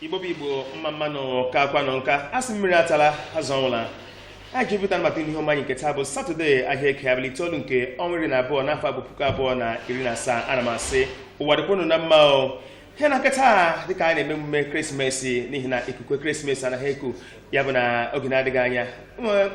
igbo bụ igbo mma mma nụ kaakwanụ nka a sị mmiri atala azụ anwụla anyị ji pụtara maka ihe omume anyị nke taa bụ satọde ahịa eke abalị itoolu nke ọnwa iri na abụọ n'afọ a bụ puku abụọ na iri na asaa ana m asị ụwa dịkwa unu na mma o n'ihi na nke taa dịka anyị na-eme emume ekeresimesi n'ihi na ikuku ekeresimesi na-eku ya bụ na oge na-adịghị anya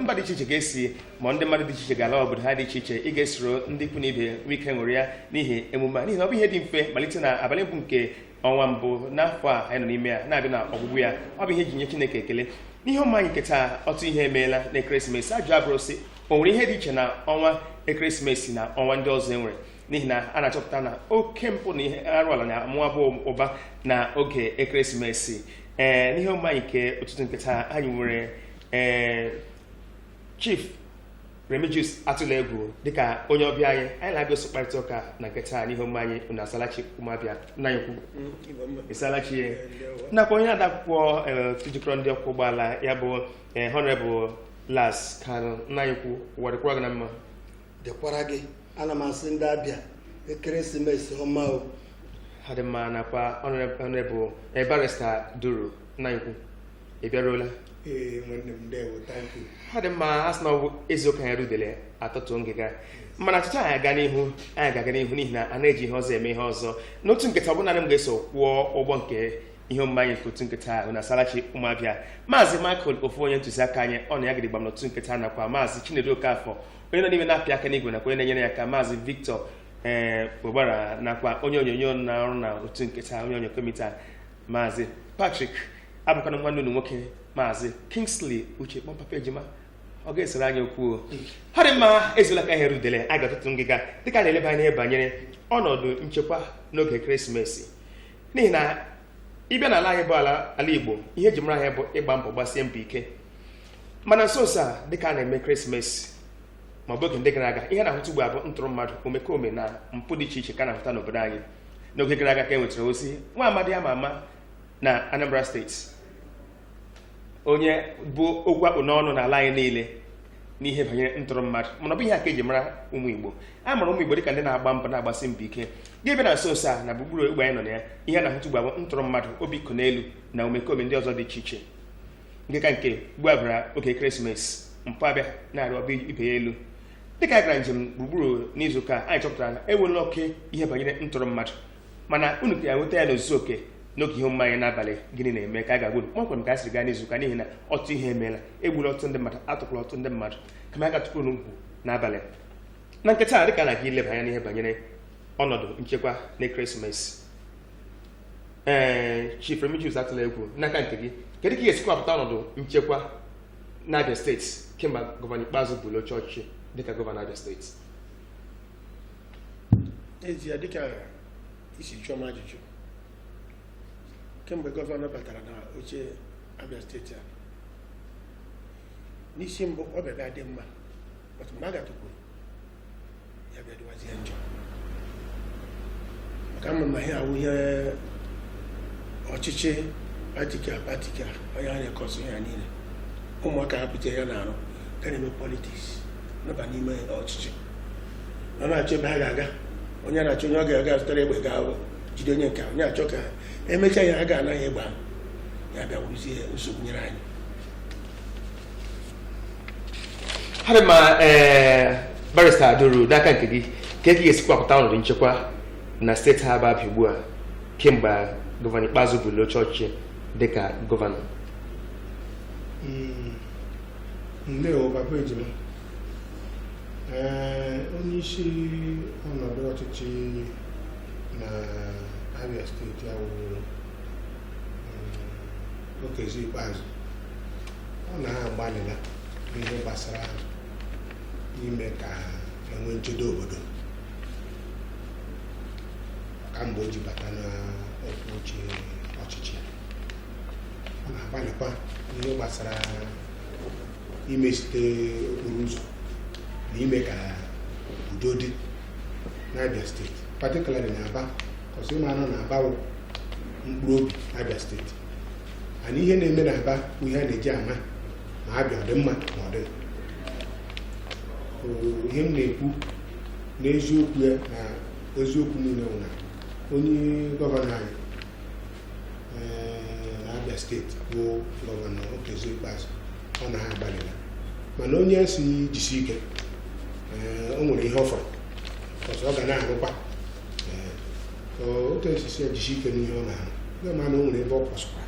mba dị iche iche ga-esi ma ndị mmadụ dị iche iche ga-ala obodo ha dị iche iche ịga soro ndị ikwu na ibe nwee ike ṅụrịa n'ihi emume a n'ihi na ọ bụghị ihe dị mfe malite na abalị mbụ nke ọnwa mbụ n'afọ a anyị nọ n'ime ya na-abịa na ọgwụgwụ ya ọ bụ ihe e ji enye Chineke ekele n'ihe omume anyị nke taa ọtụtụ ihe emeela na ekeresimesi ajụjụ abụrụ sị o nwere ihe dị iche na ọnwa ekeresimesi na ọnwa ndị ọzọ e nwere n'ihi na a na-achọpụta na oke mpụ na ihe arụrụala na-amụba ụba na oge ekeresimesi ee n'ihe omume anyị nke ụtụtụ nke taa anyị nwere ee chief remigius atụlegwu dịka onye ọbịa anyị anyị na ya ga-eso kparịta ụka na nke taa n'ihe omume anyị unu asalachi ụmụ abịa nna anyị ukwu ịsalachi ya nakwa onye na-ede akwụkwọ ee, otu jikọrọ ndị ọkwọ ụgbọala ya bụ ee, honorable las kanu nna anyị ukwu ụwa dịkwara gị na mma dịkwara gị ana m asị ndị abịa ekeresimesi ọma o ọ dị mma nakwa honorable eh, barrister duru nna anyị ukwu ị bịaruola ee nwanne m ndewo thank you ọ dị mma a sị na ọ bụ ezuo ka anyị rie udele atọtụọ ngịga mana echechaa anyị aga n'ihu anyị ga-aga n'ihu n'ihi na a na-eji ihe ọzọ eme ihe ọzọ n'ụtụtụ nke taa ọ bụghị naanị m ga-eso kwọọ ụgbọ nke ihe omume anyị nke ụtụtụ nke taa bụ unu asalachi ụmụ abịa maazị michael ofu onye ntụziaka anyị ọ nọ ya gịdịgbam n'ụtụtụ nke taa nakwa maazị chinedu okafọ onye nọ n'ime na-apị aka n'igwe nakwa onye na-enyere ya aka maazị victor ee eh, ogbara nakwa onye onyonyo na-arụ n'ụtụtụ nke taa onye onyo komiti a maazị patrick abụkwa m nwanne unu nwoke maazị kingsley uche kpọọ m papa ejima ọ gaghị esere anyị okwu ọ dị mma ezuola ka aha eri udele a ga-atọtụ ngịga dịka a na-eleba anya banyere ọnọdụ nchekwa n'oge christmas n'ihi na ị bịa n'ala anyị bụ ala ala igbo ihe e ji mara anyị bụ ịgba mbọ gbasie mbọ ike mana nso nso a dịka a na-eme christmas ma ọ bụ oge ndị gara aga ihe a na-ahụta ugbu a bụ ntọrọ mmadụ omekome na mpụ dị iche iche ka a na-ahụta n'obodo anyị n'oge gara aga ka e nwetara ozi nwa amadi ama ama na anambra steeti onye bụ okwu akpụ n'ọnụ n'ala anyị niile n'ihe banyere ntọrọ mmadụ mana ọ bụ ihe a ka e ji mara ụmụ igbo a mara ụmụ igbo dịka ndị na-agba mbọ na-agbasi mbọ ike gị bịa na nso nso a na gburugburu ogbe anyị nọ na ya ihe a na-ahụta ugbu a bụ ntọrọ mmadụ obi iko n'elu na omekome ndị ọzọ dị iche iche nke ka nke ugbu a bịara oge krismas mpụ abịa na-arịba ibe ya elu dịka anyị gara njem gburugburu n'izu ụka anyị chọpụtara na enwela oke ihe banyere ntọrọ mmadụ mana unu ka ga-enweta ya n'ozuzu oke n'oge ihe omume anyị n'abalị gịnị na-eme ka a ga-agwa unu kpọmkwem ka o siri gaa n'izu ụka n'ihi na ọtụtụ ihe emeela egburu ọtụtụ ndị mmadụ atọkwala ọtụtụ ndị mmadụ kama a ga-atụkwa unu mkpu n'abalị mana kịta a dịka a na-aga ileba anya n'ihe banyere ọnọdụ nchekwa na krismas ee chief remigius atụla egwu n'aka nke gị kedu ka ị ga-esi kọwapụta ọnọdụ nchekwa n'abia steeti kemgbe gọvanọ ikpeazụ buuru oche ọchịchị dịka gọvanọ abia steeti n'ezie dịka i si jụọ m ajụjụ kemgbe gọvanọ batara na oche abịa steeti a n'isi mbụ ọ bịara dị mma but mgbe a gatụkwuru ya bịa dịwazie njọ maka ị ma na ihe a wụ ihe ọchịchị patikula patikula ọ ya na-ekọsụ ya niile ụmụaka hapụ ihe ha na-arụ ga na-eme politiks na-aba n'ime ọchịchị na na-achọ ebe ha ga-aga onye na-achọ onye ọ ga-azụtara egbe gaa jide onye nke a, onye achọ ka emechaa ya ha ga-anaghị egbe ahụ ya bịa wụrụzie nsogbu nyere anyị adị ma ee barista duru n'aka nke gị kee ka ị ga-esi kọwapụta ọnọdụ nchekwa na steeti a bụ abia ugbu a kemgbe gọvanọ ikpeazụ buuru oche ọchịchị dịka gọvanọ Mm, ndewo papa ejima ee onye isi ọnọdụ ọchịchị na abia steeti awụrụ Okezie Ikpeazụ ọ na ha agbalịla n'ihe gbasara ime ka enwe nchedo obodo kamgbe o ji bata n'okwu oche ọchịchị ọ na-agbalịkwa n'ihe gbasara imezite okporo ụzọ na ime ka udo dị n'Abia steeti patikulari na Aba kọs ị manụ na Aba wụ mkpụrụ obi Abia steeti mana ihe na-eme na aba bụ ihe a na-eji ama ma abia ọ dị mma ma ọ dịghị Bụ ihe m na-ekwu n'eziokwu ya na eziokwu niile bụ na onye gọvanọ anyị ee, na abia steeti bụ gọvanọ okezie ikpeazụ ọ na ha agbalịla mana onye a sị jisi ike ee, o nwere ihe ọ fọrọ ọzọ ọ ga na-arụkwa otu m si sị ya jisi ike n'ihe ọ na-arụ ndị ma na o nwere ebe o kwesịkwa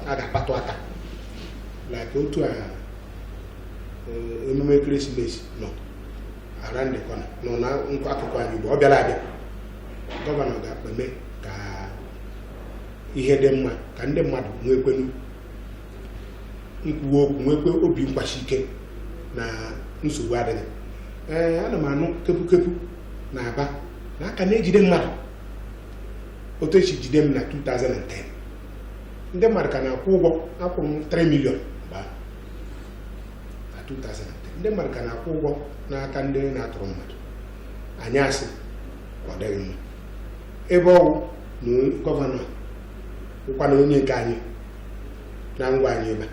a ga-akpatụ aka like otu a emume ekeresimesi nọ ara ndị kwana nọ na nkwa akụkụ anyị ugbo ọ bịara abịa gọvanọ ga-akpeme ka ihe dị mma ka ndị mmadụ nwekwenu nkwuwa okwu nwekwe obi nkwasi ike na nsogbu adịghị ee ana m anụ kepukepu na aba na a ka na-ejide mmadụ otu e si jide m na 2010 ndị mmadụ ka na-akwụ ụgwọ akwụrụ m 3 million mgbe ahụ na 2010 ndị mmadụ ka na-akwụ ụgwọ n'aka ndị na-atụrụ mmadụ anyị asị ọ dịghị mma ebe ọ wụ na gọvanọ wụkwana onye nke anyị na ngwa anyị ebe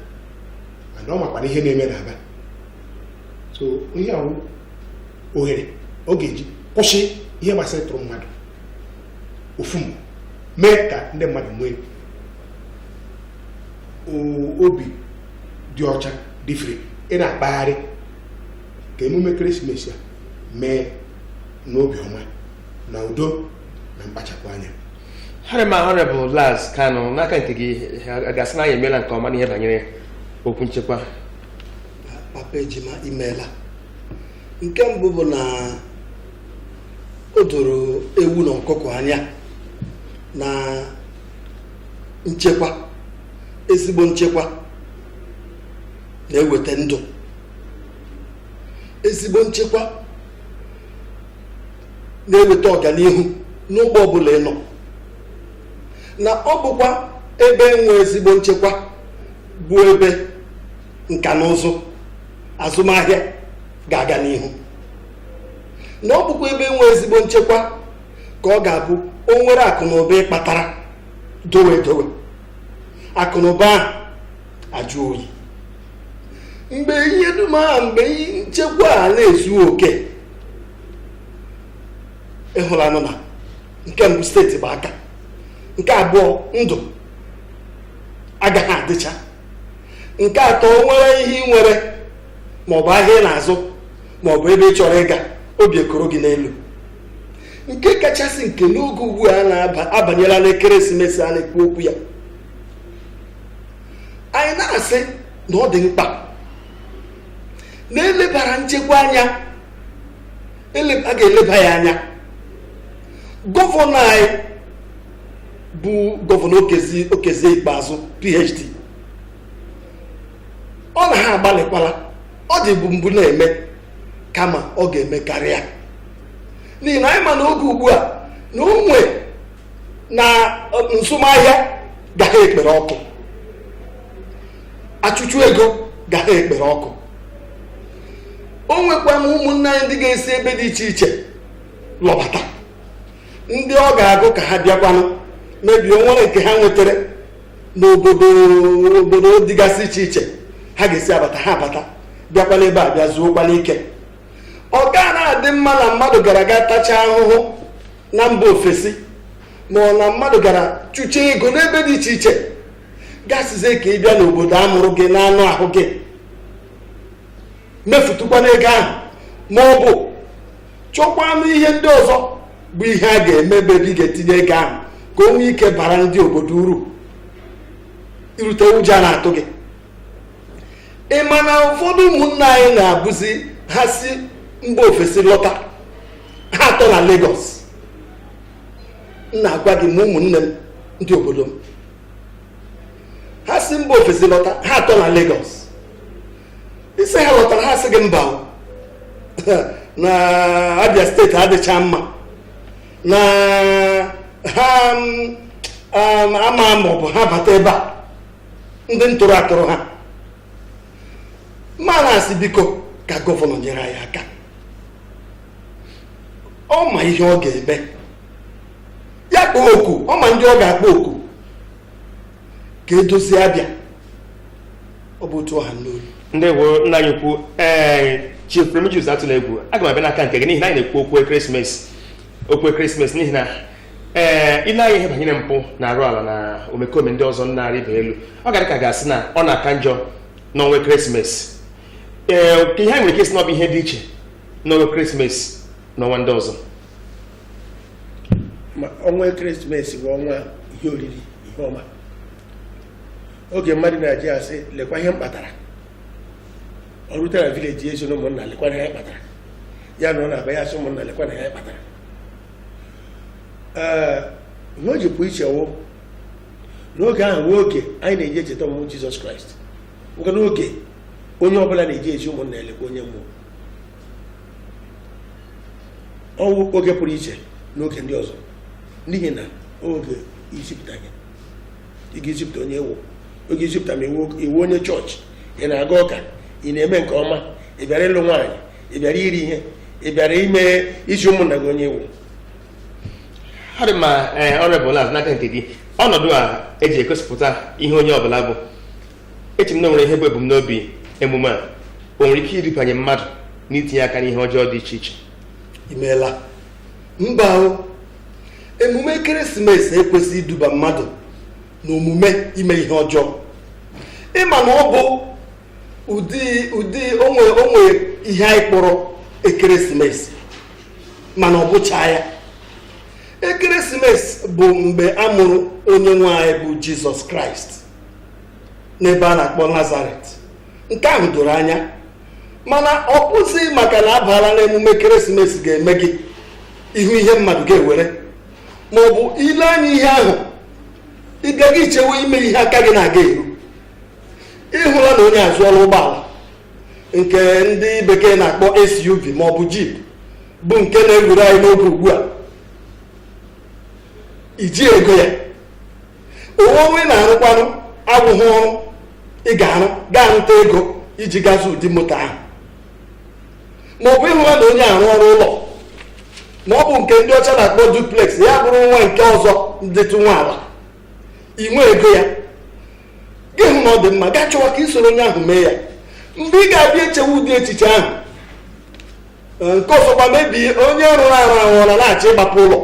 a mana ọ makwana ihe na-eme n'aba so ihe a wụ ohere ọ ga-eji kwụsị ihe gbasara ịtụrụ mmadụ ọfụma mee ka ndị mmadụ nwee o- obi dị ọcha dị free ị na-akpagharị ka emume ekeresimesi a mee n'obi ọma na udo na mkpachapụ anya ọ dị mma honourable Laz Kanu n'aka nke gị a ga-asị na anyị emeela nke ọma n'ihe banyere okwu nchekwa papa ejima imeela nke mbụ bụ na o doro ewu na ọkụkọ anya na nchekwa ezigbo nchekwa na-eweta ndụ ezigbo nchekwa na-eweta ọganihu n'ụgbọ ọbụla ị nọ na ọ bụkwa ebe e nwe ezigbo nchekwa bụ ebe nka na ụzụ azụmahịa ga-aga n'ihu na ọ bụkwa ebe e nwe ezigbo nchekwa ka ọ ga-abụ o nwere akụ na ụba ị kpatara dowe dowe akụ na ụba ahụ ajụ oyi mgbe ihe dum ahụ mgbe nchekwa a na-ezu oke ị hụlanụ na nke mbụ steeti gba aka nke abụọ ndụ agaghị adịcha nke atọ o nwere ihe ị nwere maọbụ ahịa ị na-azụ maọbụ ebe ị chọrọ ịga obi ekoro gị n'elu nke kachasị nke n'oge ugbu a na-abanyela n'ekeresimesi a na-ekwu okwu ya anyị na-asị na ọ dị mkpa na e lebara nchekwa anya eleba a ga-eleba ya anya gọvanọ anyị bụ gọvanọ okezie ikpeazụ phd ọ na ha agbalịkwala ọ dịbu mbụ na-eme kama ọ ga-eme karịa n'ihi na anyị ma na oge ugbu a na onwe na nzụmahịa ga ha ekpere ọkụ achụchụ ego ga ha ekpere ọkụ o nwekwa ụmụnna anyị ndị ga-esi ebe dị iche iche lọbata ndị ọ ga-agụ ka ha bịakwanụ mebie nwere nke ha nwetara n'obodo obodo dịgasị iche iche ha ga-esi abata ha abata bịakwanụ ebe a bịa zuokwana ike ọ ga na-adị mma na mmadụ gara gaa tachaa ahụhụ na mba ofesi ma ọ na mmadụ gara chụchaa ego n'ebe dị iche iche gị asịzie ka ị bịa n'obodo a mụrụ gị n'anụ ahụ gị mefutụkwanụ ego ahụ ma ọ bụ chọkwanụ ihe ndị ọzọ bụ ihe a ga-eme ebe ị ga-etinye ego ahụ ka o nwee ike bara ndị obodo uru i rute ụjọ ana-atụ gị ị ma na ụfọdụ ụmụnna anyị na-abụzi ha si mba ofesi lọta ha atọ na Lagos na-agwa gị ma ụmụnne m ndị obodo m ha si mba ofesi lọta ha atọ na Lagos ị sị ha lọtara ha sị gị mba na abịa steeti adịcha mma na ha mm, um, ama ma ọ bụ ha bata ebe a ndị ntọrọ atọrọ ha m na-asị biko ka gọvanọ nyere anyị aka ọ ma ihe ọ ga-eme ya kpọọ oku ọ ma ndị ọ ga-akpọ oku ka e dozie abịa ọ bụ otu ọ ha n'olu ndeewo nna anyị ukwu ee chief remigius atụlaegwu aga m abịa n'aka nke gị n'ihi na anyị na-ekwu okwu Christmas okwu Christmas n'ihi na ee i lee anya ihe banyere mpụ na arụ ala na omekome ndị ọzọ na-arịba elu ọ ga-adị ka a ga-asị na ọ na-aka njọ n'ọnwa Christmas ee kee ihe anyị nwere ike ịsị na ọ bụ ihe dị iche n'ọnwa Christmas n'ọnwa ndị ọzọ ma ọnwa Christmas wụ ọnwa ihe oriri ihe ọma oge mmadụ na-eji asị lekwa ihe m kpatara o rutara village ya ezi ụmụnna lekwa ihe ya kpatara ya na ọ na-aba ya asị ụmụnna lekwa ihe ya kpatara ee ihe o ji pụ iche wụ na oge ahụ wụ oge anyị na-eji echeta ọmụmụ jizọs kraịst bụkwanụ oge onye ọbụla na-eji ezi ụmụnna lekwa onye m wụ ọ wụ oge pụrụ iche n'oge ndị ọzọ n'ihi na ọ wụ oge izipụta gị ị ga-ezipụta onye ị wụ oge izipụta ma ị wụ onye chọọchị ị na-aga ụka ị na-eme nke ọma ị bịara ịlụ nwaanyị ị bịara iri ihe ị bịara ime izi ụmụnna gị onye ị wụ ọ dị mma ọ bụ n'aka nke gị ọnọdụ a eji egosipụta ihe onye ọbụla bụ eche m na o nwere ihe bụ ebumnobi emume a o nwere ike ịrabanye mmadụ n'itinye aka n'ihe ọjọọ dị iche iche imeela mba o emume ekeresimesi ekwesịghị iduba mmadụ n'omume ime ihe ọjọọ ị ma na ọ bụ ụdị ụdị o nwe ihe anyị kpọrọ ekeresimesi mana ọ bụchaghị ya ekeresimesi bụ mgbe a mụrụ onye nwe anyị bụ jizọs kraịst n'ebe a na-akpọ nazaret nke ahụ doro anya mana ọ bụzi maka na a baala n'emume ekeresimesi ga-eme gị ịhụ ihe mmadụ ga-ewere ma ọ bụ ile anya ihe ahụ ị gaghị ichewe ime ihe aka gị na-agaghị eru ị hụla na onye azụọla ụgbọala nke ndị bekee na-akpọ SUV ma ọ bụ Jeep bụ nke na-ewuru anyị n'oge ugbu a i ji ego ya ọrụ ị na-arụkwanụ abụghị ọrụ ị ga-arụ gaa nweta ego iji gaa zụ ụdị moto ahụ ma ọ bụ ị hụla na onye a rụrụ ụlọ ma ọ bụ nke ndị ọcha na-akpọ duplex ya bụrụ nwa nke ọzọ ndịtụ nwa ala i nwe ego ya gị hụ na ọ dị mma gaa chọwa ka ị soro onye ahụ mee ya mgbe ị ga-abịa echewe ụdị echiche ahụ nke ọzọkwa maybe onye rụrụ arụ ahụ ọ na-achọ ịgbapụ ụlọ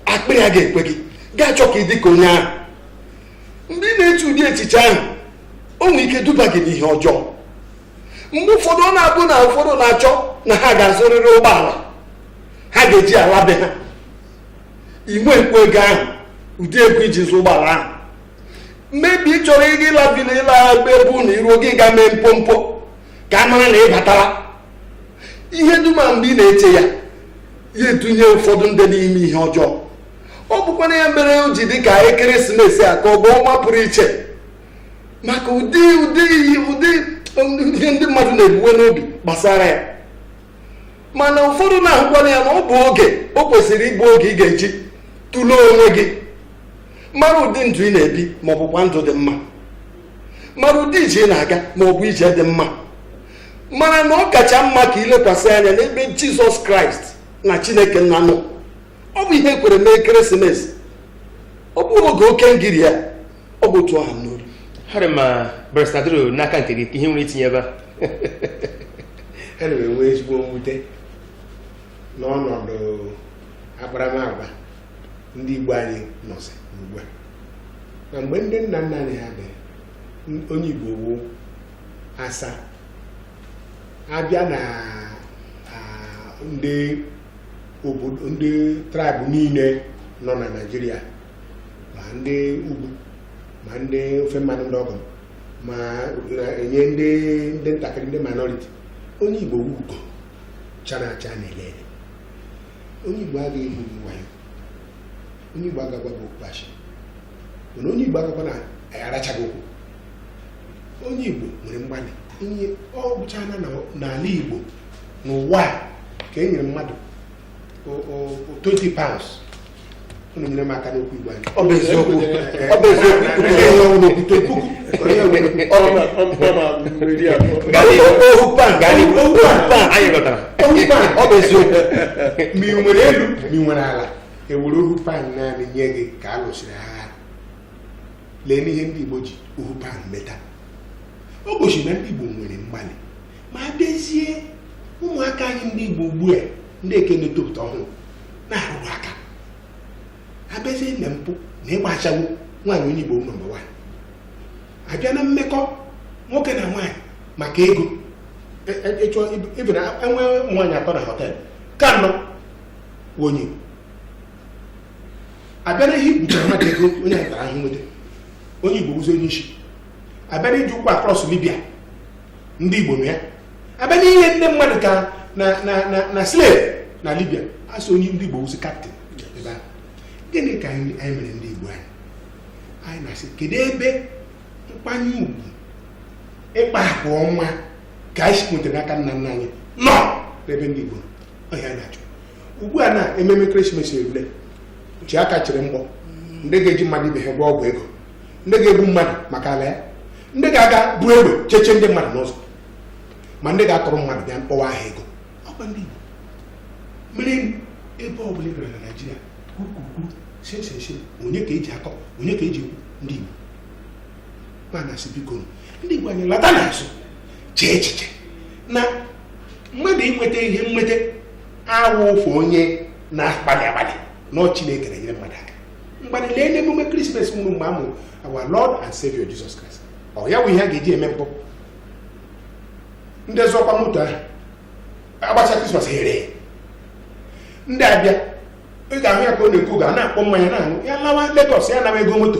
akpịrị agaghị ekwe gị gaa chọọ ka ị dị ka onye ahụ mgbe ị na-eche ụdị echiche ahụ o nwere ike duba gị n'ihe ọjọọ mgbe ụfọdụ ọ na-abụ na ụfọdụ na-achọ na ha ga-azụrịrị ụgbọala ha ga-eji ala be ha i nwekwa ego ahụ ụdị ego iji zụ ụgbọala ahụ maybe ị chọrọ ịga ịla vila ịla ebe be unu i ruo gị ga mee mpompo ka a mara na ị batara ihe dum a mgbe ị na-eche ya ya edunye ụfọdụ ndị n'ime ihe ọjọọ ọ bụkwa na ya mere o ji dị ka ekeresimesi a ka ọ bụ ọnwa pụrụ iche maka ụdị ụdị ihe ụdị ihe ndị mmadụ na-ebuwe n'obi gbasara ya mana ụfọdụ na-ahụkwanụ ya na ọ bụ oge o kwesịrị ịbụ oge ị ga-eji tụlee onwe gị mara ụdị ndụ ị na-ebi ma ọ bụkwa ndụ dị mma mara ụdị ije ị na-aga ma ọ bụ ije dị mma mara na ọ kacha mma ka ilekwasị anya n'ebe jizọs kraịst na chineke nna nọ ọ bụ ihe ekwere mee ekeresimesi ọ bụrụ oge oke ngiri ya ọ bụ otu ọ ha m n'olu harị ma brestadro n'aka nke gị ka ihe i nwere itinye ebe a ana m enwe ezigbo mwute n'ọnọdụ akparamagwa ndị igbo anyị nọzi ugbu a na mgbe ndị nna nna anyị ha dị onye igbo wụ asa a bịa na ndị obodo ndị traịbụ niile nọ na naijiria ma ndị ugwu ma ndị ofe mmanụ ndị ọgọ m ma na-enye ndị ndị ntakịrị ndị minority onye igbo wụ ugo chara acha na-ele ele onye igbo adịghị egwu wayo onye Igbo aga agwa gị okwu asị mana onye Igbo agagwa na anyị arachaghị okwu onye Igbo nwere mgbalị ihe ọ bụchana n'ala Igbo n'ụwa ka e nyere mmadụ 20 pounds unu nyere m aka n'okwu Igbo anyị ọ bụ eziokwu ma ị nwere elu ma ị nwere ala e were ohu pan naanị nye gị ka a lụsịrị agha leenụ ihe ndị Igbo ji ohu pan meta o gosi na ndị Igbo nwere mgbalị ma a bịazie ụmụaka anyị ndị Igbo ugbu a ndị nke na-etopụta ọhụrụ na-arụrụ aka a bịazie na mpụ na ịgba ashawo nwaanyị onye Igbo nọmba wan a bịa na mmekọ nwoke na nwaanyị maka ego ịchọ e, e, e, ịbụ na enwe nwaanyị atọ na họteelụ ka nọ onye a bịa n'ihe ikpuchara mmadụ ego onye ahụ tara ahụhụ nweta onye igbo bụzi onye isi a bịa n'iji ụkwụ akrọs libya ndị igbo nọ ya a bịa n'ire ndị mmadụ ka na na na na slave na libya a sị na ndị igbo bụzi kaptịn ebe ahụ gịnị ka anyị anyị mere ndị igbo anyị anyị na-asị kedu ebe nkwanye ugwu ịkpa agwa ọma nke anyị si nweta n'aka nna nna anyị nọ n'ebe ndị igbo nọ? ọhịa anyị na-achọ ugbu a na ememe ekeresimesi erule ji aka chịrị mgbọ ndị ga-eji mmadụ ibe ha gwọọ ọgwụ ego ndị ga-egbu mmadụ maka ala ya ndị ga-aga bu egbe cheche ndị mmadụ n'ụzọ ma ndị ga-atọrọ mmadụ bịa mkpọwa aha ego ọkwa ndị Igbo mere ebe ọ bụla ị gara na Naịjirịa kwukwukwu sesese onye ka eji akọ onye ka eji ekwu ndị Igbo kpanasị biko ndị Igbo anyị lata n'azụ chee echiche na mmadụ inweta ihe nweta awụ ụfụ onye na-akpali akpali na ọ Chineke na-enyere mmadụ aka mgbada lee n'emume krismas mụrụ mgbe a mụrụ our Lord and Savior Jesus Christ ọ ya bụ ihe a ga-eji eme mpụ ndị zụkwa moto ahụ agbacha krismas ha ere ndị abịa ị ga-ahụ ya ka ọ na-ekwu ga na-akpọ mmanya na-aṅụ ya lawa Lagos ya nawa ego moto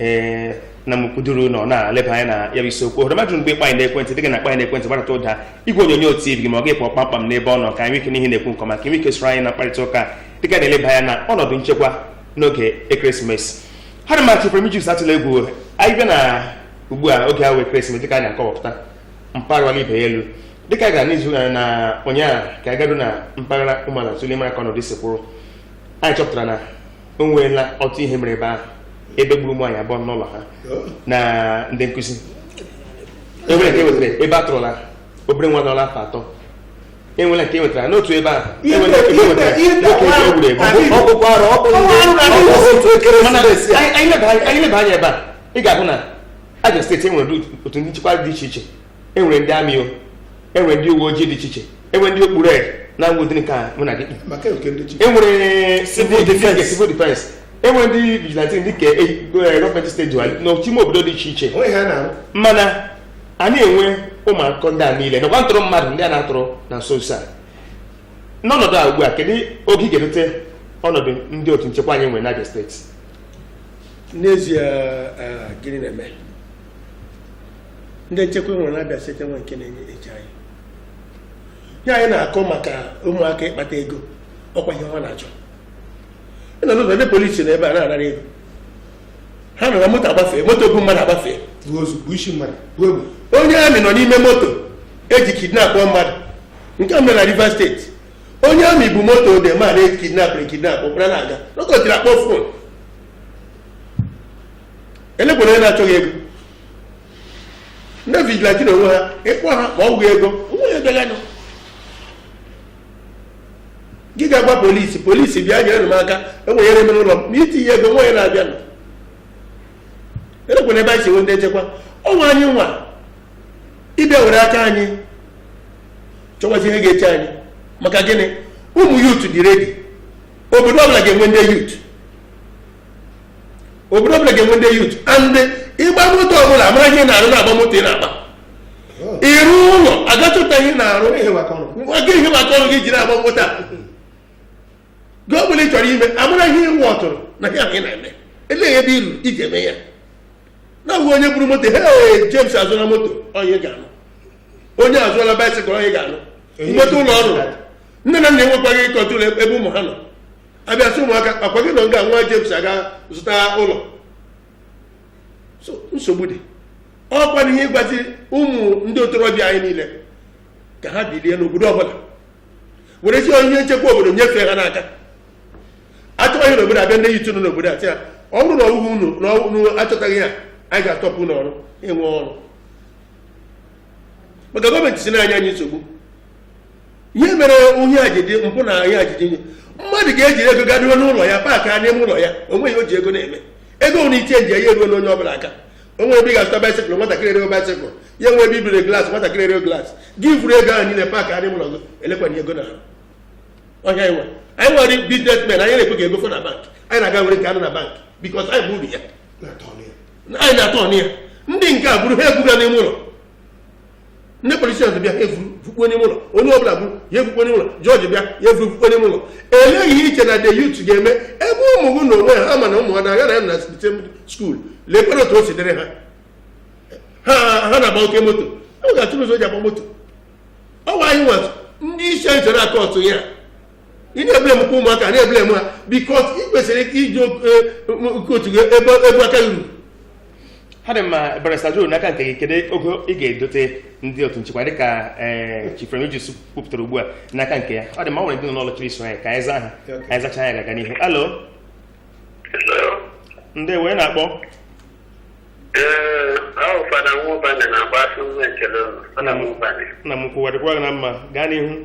ee na mkwuduru na ọ na-eleba anya na ya bụ isiokwu ohere mmadụ mgbe ịkpọ anyị n'ekwentị dịka ị na-akpọ anyị n'ekwentị gbarata ụda igwe onyonyo tv gị ma ọ gị apụọ kpamkpam n'ebe ọ nọ ka anyị nwee ike nụ ihe ị na-ekwu nke ọma ka ị nwee ike soro anyị na mkparịta ụka dịka na-eleba anya na ọnọdụ nchekwa n'oge ekeresimesi ha dị machị pụrụ ijus atụla egwu anyị bịa na ugbu a oge ahụ ekeresimesi dịka anyị na-akọwapụta mpaghara ibe ya elu dịka a gara n'izu gara na ụnyaahụ ka anyị gara na mpaghara Ụmụahịa tụle mara ka ọnọdụ si kwụrụ anyị chọpụtara na o nweela otu ihe mere ebe ahụ ebe e gburu ụmụ nwanyị abụọ n'ụlọ ha na ndị nkuzi enwere nke wetara ebe a tụrụla obere nwa dịla afọ atọ enwere nke wetara n'otu ebe ahụ enwere nke wetara n'otu ebe e gburu egbu ọkpụkpụ arụ ọkpụkpụ anyị leba anya ebe a ị ga-ahụ na Abia steeti enwere otu ndị nchekwa dị iche iche enwere ndị amị o enwere ndị uwe ojii dị iche iche enwere ndị okpu red na ngwụdị nke a mụ na gị kpi. maka nke ndị chi enwere Civil ndị defense. nke civil defense enwere ndị vigilante ndị ka e- e- gọọmenti steeti jiwa n'ime obodo dị iche iche onwe ha na-arụ mana a na-enwe ụmụ akụkọ ndị a niile nakwa ntụrụ mmadụ ndị a na-atụrụ na nso nso a n'ọnọdụ a ugbu a kedu ogo ị ga-edote ọnọdụ ndị otu nchekwa anyị nwere n'Abia steeti n'ezie eh, gịnị na-eme ndị nchekwa nwere n'Abia steeti nwe nke na-enye eji anyị ya anyị na-akọ maka ụmụaka ịkpata ego ọkwa ihe ha na-achọ ị nọ n'ụzọ ndị polisi nọ ebe a na-anara ego ha nọ na moto agbafee moto bu mmadụ agbafee bu ozu bu isi mmadụ bu egbe onye amị nọ n'ime moto eji kidnap mmadụ nke a mere na Rivers steeti onye amị bu moto ode ma na kidnapụrụ kidnap ụkpara na-aga n'oge o jiri akpọ fon elekwanụ onye na-achọghị ego ndị vigilante na onwe ha ịkpọ ha ma ọ wụghị ego onwe ya bịaganụ gị ga-agwa polisi polisi bịa nyere m aka enwere ihe mere ụlọ m na itinye ego nwa ya na-abịa nọ elekwanụ ebe anyị si enwe ndị nchekwa ọ wụ anyị nwa ịbịa were aka anyị chọwazi ihe ga-eche anyị maka gịnị ụmụ yut dị redi obodo ọbụla ga-enwe ndị yut obodo ọbụla ga-enwe ndị youth and ịgba moto ọbụla a mara ihe ị na-arụ na-agba moto ị na-agba ịrụ ụlọ a ga-achọta ihe ị na-arụ Ihe maka ọrụ. nwa gị ihe maka ọrụ gị ji na-agba moto a gị ọ bụla ị chọrọ ime a mara ihe ị wụ ọtụrụ na ihe ahụ ị na-eme elee ebe iru i ji eme ya na abụghị onye buru moto he James azụla moto onye ga-anụ onye azụọla baisikụl onye ga-anụ Onye nweta ụlọ ọrụ ga-anụ. nne na nna enwekwaghị kọntrol ebe ụmụ ha nọ a bịa sị ụmụaka ọkwa gị nọ nga nwa James aga zụta ụlọ so nsogbu dị ọkwa na ihe ị gwazi ụmụ ndị ntorobịa anyị niile ka ha bilie n'obodo ọbụla were si onye nchekwa obodo nyefee ha n'aka a chọọ ihe n'obodo a bịa ndị youth nọ n'obodo a sị ya ọ bụrụ na ọ wụghị unu na unu achọtaghị ya anyị ga-astọpụ unu ọrụ ịnwe ọrụ maka gọọmenti si na-enye anyị nsogbu ihe mere onye a ji dị mpụ na ihe a ji dị nye mmadụ ga-ejiri ego garuo n'ụlọ ya paakịa n'ime ụlọ ya o nwe ihe o ji ego na-eme ego nwere iche nje ya eruo onye ọbụla aka o nwe ebe ị ga-azụta baisikụl nwatakịrị erego baisikụl ya nwe ebe ibere glaasị nwatakịrị erego glaasị gị vuru ego ahụ niile paakịa n'ime ụlọ gị elekwanye ego na ahụ ọhịa anyị nwere anyị nwere biznesmen anyị na-ekwe ka ego fọ na bank anyị na-aga were nke a nọ na bank bikos anyị bụ uru ya na-atọ ọnụ ya anyị na-atọ ọnụ ya ndị nke a buru ha ebuga n'ime ụlọ ndị polisi ọzọ bịa ha evuru vukpuo n'ime ụlọ onye ọbụla buru ya evukpuo n'ime ụlọ jọji bịa ya evuru vukpuo n'ime ụlọ elee ihe i che na the youth ga-eme ebe ụmụ gị na onwe ha ma na ụmụ ha na-aga na ya na same skuul lekwere otu o si dịrị ha ha ha na-agba oke moto ọ ga-achọrọ ụzọ o ji agba moto ọ gwa anyị nwatụ ndị isi anyị chere aka otu ya ị na-eblame kwa ụmụaka na-eblame ha bikọs ị kwesịrị iji oke otu gị ebe ebe aka gị ruru ha dị mma barista Duru n'aka nke gị kedu oge ị ga-edote ndị otu nchekwa dịka ee Chief Remigius kwupụtara ugbu a n'aka nke ya ọ dị mma o nwere ndị nọ n'ụlọ chọrọ iso anyị ka anyị zaa ha ka anyị zachaa ya gaga n'ihu halo ndeewo onye na-akpọ Ee, a wụ Fada Nwụbanye na-agba asụ nwa ekele ụnụ. Fada Nwụbanye. nna m ukwu ya dịkwa gị na mma gaa n'ihu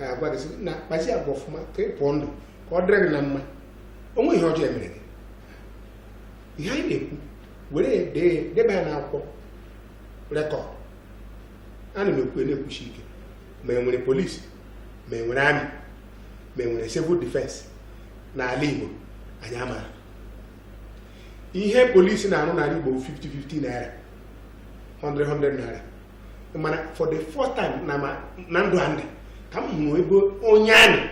a gwa gị na kpazie agwa ọfụma ka ị pụọ ndụ ka ọ dịrị gị na mma o nwe ihe ọjọọ e mere gị ihe anyị na-ekwu were dee debe ya n'akwụkwọ rekọd ana m ekwu na-ekwusi ike ma e nwere polisi ma e nwere army ma e nwere civil defense n'ala Igbo anyị amaghị ihe polisi na-arụ n'ala Igbo 50-50 naira 100-100 naira mana for the first time na ma na ndụ a m dị ka m hụrụ ebe onye army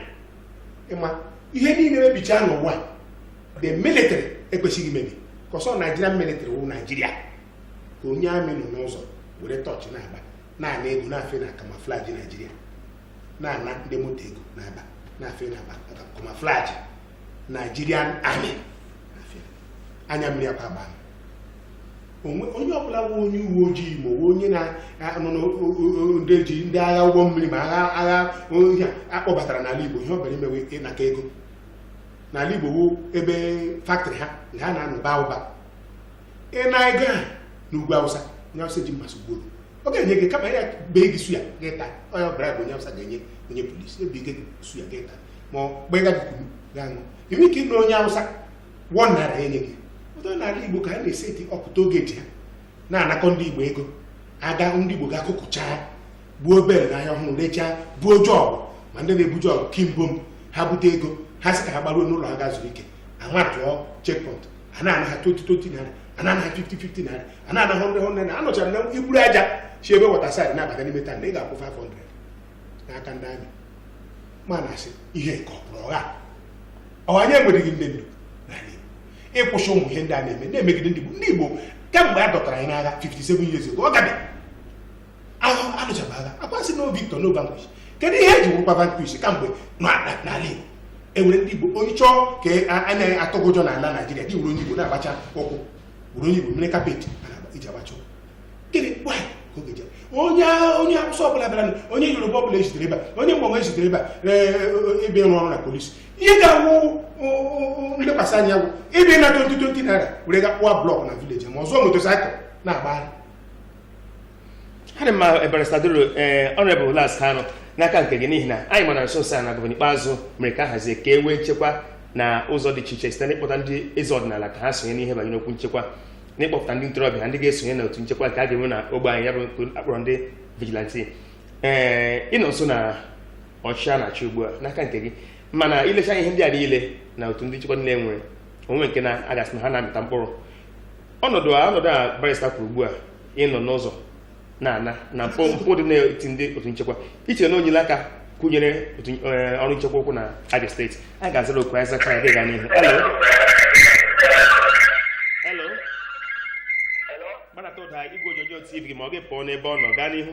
ị ma ihe niile mebichaa n'ụwa the military ekwesịghị imebi ka ọ sọ Nigerian military wụ Nigeria ka onye army nọ n'ụzọ were tọọchị na-agba na-ana ego n'efe na camouflage Naijiria na-ana ndị moto ego n'Aba n'efe n'Aba camouflage Nigerian army n'efe. anya mmiri akwa agba onye ọbụla bụ onye uwe ojii ma onye na-anọ ndị ji ndị agha ụgbọ mmiri ma agha agha ohi a kpọbatara n'ala Igbo ihe ọ bịara ime wụ ịnakọ ego n'ala Igbo bụ ebe faktrị ha na ha na-anọ ba ụba ịna ego a n'ugwu Awụsa onye Awụsa ji mmasị gburu ọ ga-enye gị kama ya bee gị suya gị ta onye ọbara bụ onye Awụsa ga-enye onye polisi e bee gị suya gị ta ma ọ gbaa gị kunu gị ṅụ i nweghị ike ịna onye Awụsa 1 naira e nye gị ọ wụ n'ala Igbo ka a na-eseti up toll gate a na-anakọ ndị Igbo ego aga ndị Igbo ga-akụkụchaa gbuo bel n'ahịa ọhụrụ rechaa buo jọọgụ ma ndị na-ebu jọọgụ kimbo m ha bute ego ha sị ka ha gbaruo n'ụlọ ha gaa zuo ike a matụọ checkpoint a na-ana ha 2020 naira a na-ana ha 5050 naira a na-ana ha 100 naira anọchara na i buru aja si ebe Waterside na-abata n'ime town ị ga-akwụ 500 n'aka ndị army ma na-asị ihe nke ọ bụrụ ụgha ọ wụ anyị enwereghị ndị ndu n'ala Igbo ịkwụsị ụmụ ihe ndị a na-eme na-emegide ndị Igbo ndị Igbo kemgbe a dọtara anyị n'agha 57 years ago ọ gabe ahụ a lụchaba agha a ka a sị no victor no vanquish kedu ihe e ji wụrụkwa vanquish kamgbe na- na- n'ala Igbo e were ndị Igbo onye chọọ ka a- a na-atụ gị ụjọ n'ala Naijiria gị were onye Igbo na-agbacha ụkwụ were onye Igbo mere carpet a na-agba- iji agbacha ụkwụ gịnị why ka oge jere onye onye awụsa ọbụla bịara onye yoruba ọbụla ezitere ebe a onye mgbanwe ezitere ebe a ee, ebe ịrụ ọrụ na polisi ihe ga-awụ ụ, ụ, ụ, nlekwasị anya wụ ebe ịna 2020 naira were ga kpụwa blọk na village ma zụọ motorcycle na-agbagharị ọ dị mma barịsta ee Honourable las kanụ n'aka nke gị n'ihi na anyị mara nso nso a na gọvanọ Ikpeazu mere ka a hazie ka e nwee nchekwa na ụzọ dị iche iche site n'ịkpọta ndị eze ọdịnala ka ha sonye n'ihe banyere okwu nchekwa n'ịkpọpụta ndị ntorobịa ndị ga-esonye na otu nchekwa nke a ga-enwe na ogbe anyị ya bụ nke a kpọrọ ndị vigilanti ee ị nọ nso na ọchịchị a na-achị ugbu a n'aka nke gị mana i lechaa ihe ndị a niile na otu ndị nchekwa niile e nwere o nwee nke a ga-asị na ha na-amịta mkpụrụ ọnọdụ a ọnọdụ a barịsta kwuru ugbu a ịnọ n'ụzọ na-ana na mpụ mpụ dị n'etiti ndị otu nchekwa i che na o nyere aka kwụnyere otu eh, ọrụ nchekwa ụkwụ na Abia steeti a ga-azara oku a ị zaa ka a gaa n'ihu Hello? Hello? gbanata ụda igwe onyonyo tv gị ma ọ gị pụọ n'ebe ọ nọ gaa n'ihu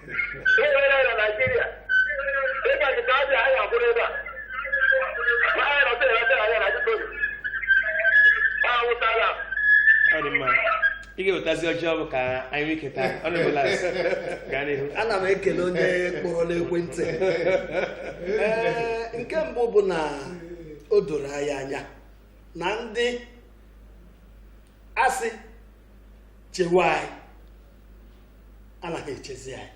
ọ dị mma ị ga-ewetazi ọjị ọ bụ ka anyị nwee ike taa ọ na-ebela gaa n'ihu ana m ekele onye kpọrọ n'ekwentị Ee, nke mbụ bụ na o doro anyị anya na ndị a sị chewe anyị anaghị echezi anyị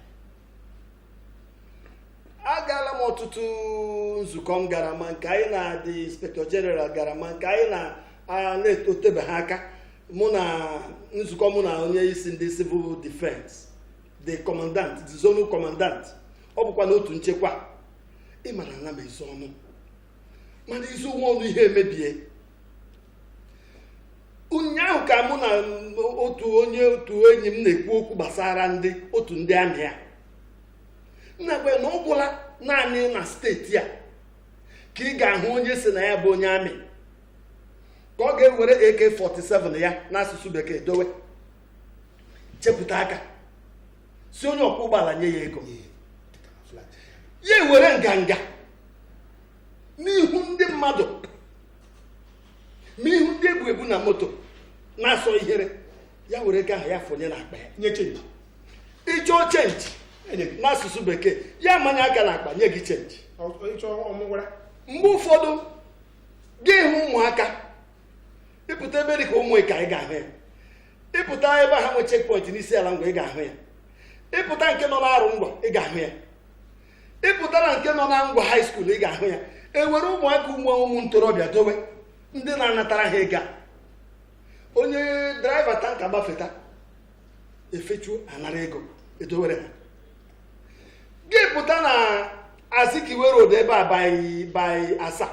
agaala m ọtụtụ nzukọ m gara ma nke anyị na the inspector general gara ma nke anyị na a na-etebe ha aka mụ na nzukọ mụ na onye isi ndị civil defense the commandant the zonal commandant ọ bụkwa n'otu nchekwa ị mara ana m ezo ọnụ mana i zowa ọnụ ihe emebie ụnyaahụ ka mụ na otu onye otu enyi m na-ekwu okwu gbasara ndị otu ndị amị a m na-agwa ya na ọ gwụla naanị na steeti a ka ị ga-ahụ onye sị na ya bụ onye amị ka ọ ga-ewere AK47 ya n'asụsụ bekee dowe chepụta aka sị onye ọkwọ ụgbọala nye ya ego ya ewere nganga n'ihu ndị mmadụ n'ihu ndị e bu ebu na moto na-asọ ihere ya were ego ahụ ya fọnye n'akpa ya nye chenji ị chọọ chenji n'asụsụ bekee ya manye aka n'akpa nye gị chenji mgbe ụfọdụ gị hụ ụmụaka ị pụta ebe dị ka ụmụịka ị ga-ahụ ya ị pụta ebe ha nwe checkpoint n'isiala ngwa ị ga-ahụ ya ị pụta nke nọ n'arụngwa ị ga-ahụ ya ị pụta na nke nọ na ngwa high school ị ga-ahụ ya e were ụmụaka ụmụ ụmụ ntorobịa dowe ndị na-anatara ha ego onye driver tanker gbafeta e fechuo a nara ego edowere ha gị pụta na azikiwe road ebe a by asa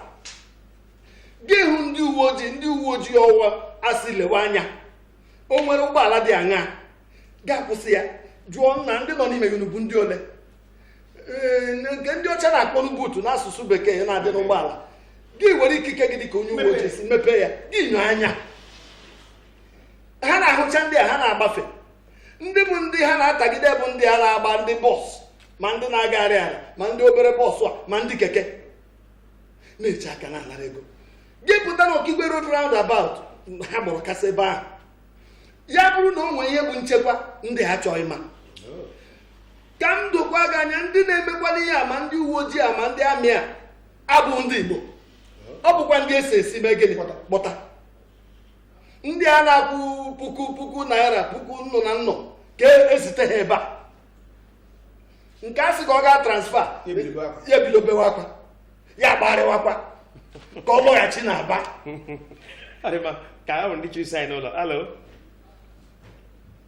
gị hụ ndị uwe ojii ndị uwe ojii ọ wụ a sị lewe anya o nwere ụgbọala dị aṅaa gị akwụsị ya jụọ na ndị nọ n'ime unu bụ ndị ole nke ndị ọcha na-akpọnụ boot n'asụsụ bekee na-adị n'ụgbọala gị were ikike gị dị ka onye uwe ojii sị mepee ya gị nyoo anya ha na-ahụcha ndị a ha na-agbafe ndị bụ ndị ha na-atagide bụ ndị a na-agba ndị bọs ma ndị na-agagharị ala ma ndị obere bọs a ma ndị keke na-eche aka na-anara ego gị pụta na okigwe road roundabout ha gbọrọ kasaa ebe ahụ ya bụrụ na o nwee ihe bụ nchekwa ndị a achọghị ịma ka m dokwa gị anya ndị na-emekwanụ ihe a ma ndị uwe ojii a ma ndị amị a abụ ndị Igbo ọ bụkwa ndị esi esi mee gịnị kpọta ndị a na-akwụ puku puku naira puku nnụ na nnụ ka e zite ha ebe a nke a sị ka ọ gaa transfa ya ebido bewa akwa ya agbarịwakwa ka ọ lọghachi na Aba ka ahụ ndị chiri saịn ụlọ alo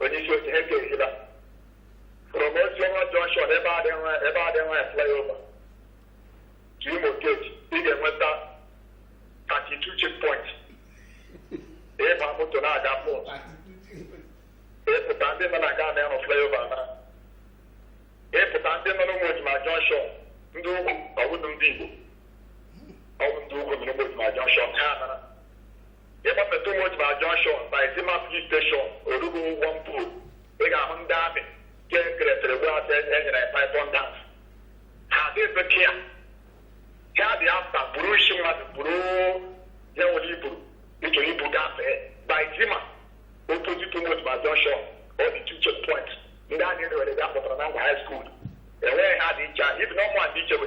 onye isi oche ha ekeghịla from Osisioma Junction ebe a dị nwa ebe a dị nwa flyover to Imo Gate ị ga-enweta 32 checkpoint ị gba moto na-aga pọt ịpụta ndị nọ na Ghana ịrụ flyover na ịpụta ndị nọ n'Ụmụojima Junction ndị ugwu ọ wụdụ ndị Igbo ọ wụ ndị ugwu nọ n'Ụmụojima Junction ha nara ị gbafee Tonimas junction by Eziama police station orugo ụgwọ mpụ ị ga-ahụ ndị amị nke keresịrị gwa a sị e nyere ya python dance ha adịghị bekee ya ha dị afta buru isi mmadụ buru ya nwere iburu ịchọ ibu gafee by Eziama opposite Tonimas junction ọ dị two check point ndị anyị rewere bịa pụtara na ngwa high school enweghị ha dị iche a ibi na ọmụ a dị iche bụ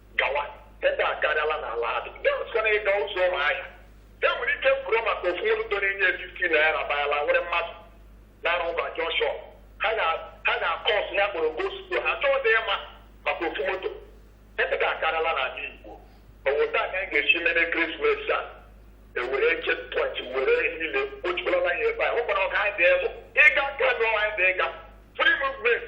gawa ebe a karịala n'ala adị ndị ọzọkwana ịga ụzọ Ụmụahịa e nwere ike kwuru maka ofu moto toro enye 50 naira bayala nwere mmadụ na-arụ ụba jọshọn ha ga- ha ga-akwụsị ya kpọrọ gospel ha chọọ dị ịma maka ofu moto ebe ga akarịala n'ala Igbo ọ wụ otu a ka anyị ga-esi mere krismas a e were checkpoint were niile kpochikwalala ya ebe a hụkwara ọka anyị dị elu ịga kedu anyị dị ịga free movement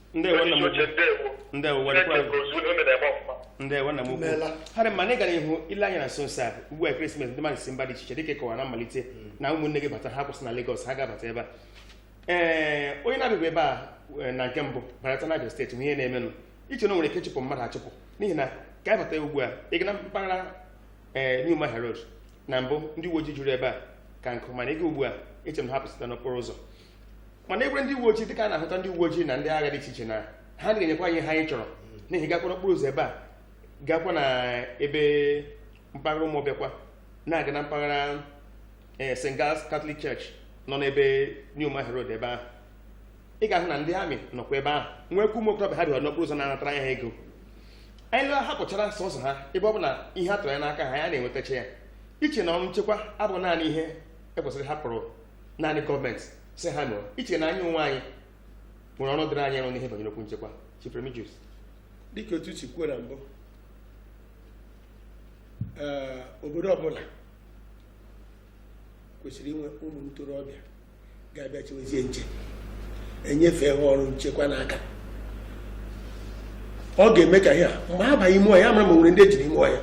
ndewo nna m uche ukwu ndewo ndewo were Chineke kwere gozie unu unu na-eme ọfụma ndewo nna m ukwu Imeela. ha dị mma na ị gara ihu ile anya na nso nso a ugbu a ekeresimesi ndị mmadụ si mba dị iche iche dịka ị kọwara na mmalite na ụmụnne gị batara ha kwụsị na Lagos ha ga-abata ebe a ee onye na-abịaghị ebe a eh, na nke mbụ barata na Abia steeti hụ ihe na-emenụ i che na o nwere ike chụpụ mmadụ achụpụ n'ihi na ka anyị bata ya ugbu a ị ga na mpaghara ee New Umuahia Road na mbụ ndị uwe ojii juru ebe a ka nkụ mana ị ga ugbu a eche m na ha pụsịta n'okporo ụzọ mana i were ndị uwe ojii dịka a na-ahụta ndị uwe ojii na ndị agha dị iche iche na ha na enyekwa anyị ihe anyị chọrọ n'ihi gakwara okporo ụzọ ebe a gakwa na ebe mpaghara Ụmụọbịakwa na-aga na mpaghara ee eh, St. Giles Catholic Church nọ n'ebe New Umuahia Road ebe ahụ ị ga-ahụ na ndị amị nọkwa ebe ahụ nwekwa ụmụ okorobịa ha dịwa n'okporo ụzọ na-anatara ya ha ego anyị lụọ ha pụchara sọsọ ha ebe ọ bụ na ihe a tụrụ anya n'aka ha ya na-enwetacha ya eche m na ọrụ nchekwa abụghị naanị ihe e kwesịrị ịhapụrụ naanị gọọmenti si ha mee ọ i chee na anyị onwe anyị nwere ọrụ dịrị anyị ịrụ n'ihe banyere okwu nchekwa Chief Remigius dịka otu si kwuo na mbụ ee, obodo ọbụla kwesịrị inwe ụmụ ntorobịa ga-abịa chewezie nche enyefe ha ọrụ nchekwa n'aka ọ ga-eme ka ihe a mgbe ha banye ime ọhịa amara ma e nwere ndị jiri ime ọhịa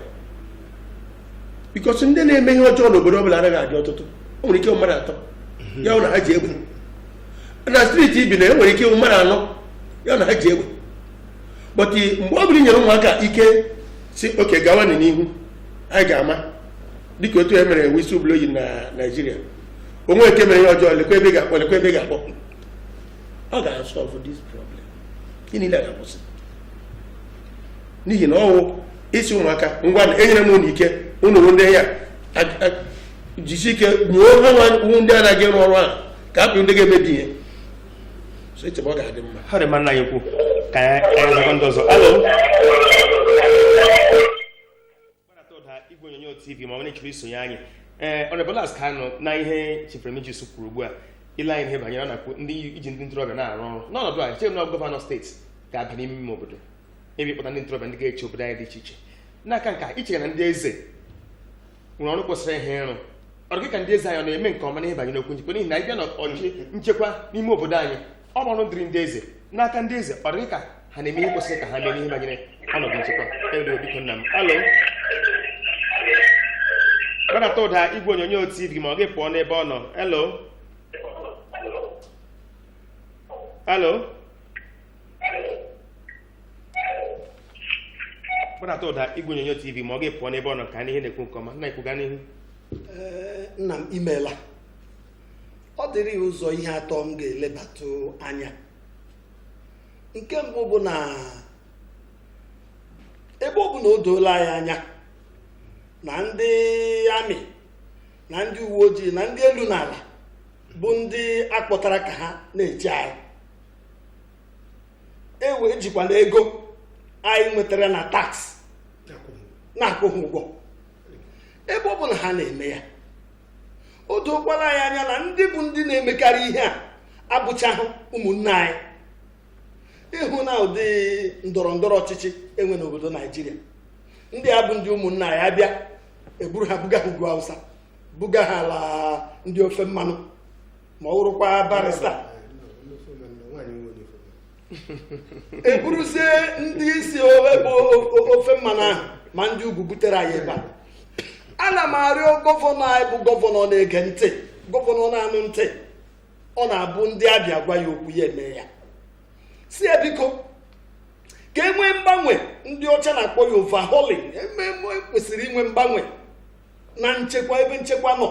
because ndị na-eme ihe ọjọọ n'obodo ọ bụla anaghị adị ọtụtụ o nwere ike mmadụ atọ mhm. ọ wụ na ha ji egbe na street i bi o nwere ike mmadụ anọ ọ wụ na ha ji egbe but mgbe ọ bụla e nyere ụmụaka ike sị okay gawa n'ihu anyị ga-ama dịka otu e mere whistleblowing na naijiria onye nke mere ihe ọjọọ lekwa ebe ga-akpọ lekwa ebe ga-akpọ ọ ga-asolve this problem niile ga-akwụsị n'ihi na ọ wụ ị sị ụmụaka ngwa enyere m unu ike unu bụ ndị ya jisi ike nyuo ha wụ ndị anaghị ịrụ ọrụ a ka ha bụ ndị ga-emebi ihe so echebe ọ ga-adị mma ọ dị mma nna anyị ukwu ka anyị zọrọ ndị ọzọ hello gbanata ụda igwe onyonyo tv ma ọ na-echiri isonye anyị ee ọnebụlas ka anọ na ihe chief remigius kwuru ugbu a i lee anya ihe banyere ọ na-ekwu ndị iji ndị ntorobịa na-arụ ọrụ n'ọnọdụ i chere na gọvanọ steeti ga-aba n'ime ime obodo ịbịa kpọta ndị ntorobịa ndị ga-eche obodo anyị dị iche iche n'aka nke a i che na ndị eze nwere ọrụ kwesịrị ha ịrụ ọ dị gị ka ndị eze anyị ọ na-eme nke ọma n'ihe banyere okwu nchekwa n'ihi na anyị bịa na ọchịchị nchekwa n'ime obodo anyị ọ bụ ọrụ dịrị ndị eze n'aka ndị eze ọ dị gị ka ha na-eme ihe kwesịrị ka ha mee n'ihe banyere ọnọdụ nchekwa hello biko nna m hello gbanata ụda igwe onyonyo tv ma ọ gị pụọ n'ebe ọ nọ hello hello gbanata ụda igwe onyonyo tv ma ọ gị pụọ n'ebe ọ nọ ka anyị nụ ihe ị na-ekwu nke ọma nna ekwuga n'ihu Ee, nna m imeela ọ dịrị ụzọ ihe atọ m ga-elebatụ anya nke mbụ bụ na ebe ọ bụ na o doola anyị anya na ndị amị na ndị uwe ojii na ndị elu na ala bụ ndị akpọtara ka ha na-eche anyị ewe ejikwana ego anyị nwetara na tax na-akwụ ha ụgwọ ebe ọ bụ na ha na-eme ya o dookwala anyị anya na ndị bụ ndị na-emekarị ihe a abụchaghị ụmụnna anyị ị hụ na ụdị ndọrọ ndọrọ ọchịchị e nwere n'obodo naijiria ndị a bụ ndị ụmụnna anyị a bịa e buru ha buga ha ugwu hausa buga ha ala ndị ofe mmanụ ma ọ wụrụkwa barịsta eburuzie ndị isi ebe ofe mmanụ ahụ ma ndị ugwu butere anyị ebe a ana m arịọ gọvanọ anyị bụ gọvanọ na-ege ntị gọvanọ na-anụ ntị ọ na-abụ ndị abịa gwa ya okwu ya eme ya sị ya biko ka e nwee mgbanwe ndị ọcha na-akpọ ya overhauling e mee kwesịrị inwe mgbanwe na nchekwa ebe nchekwa nọ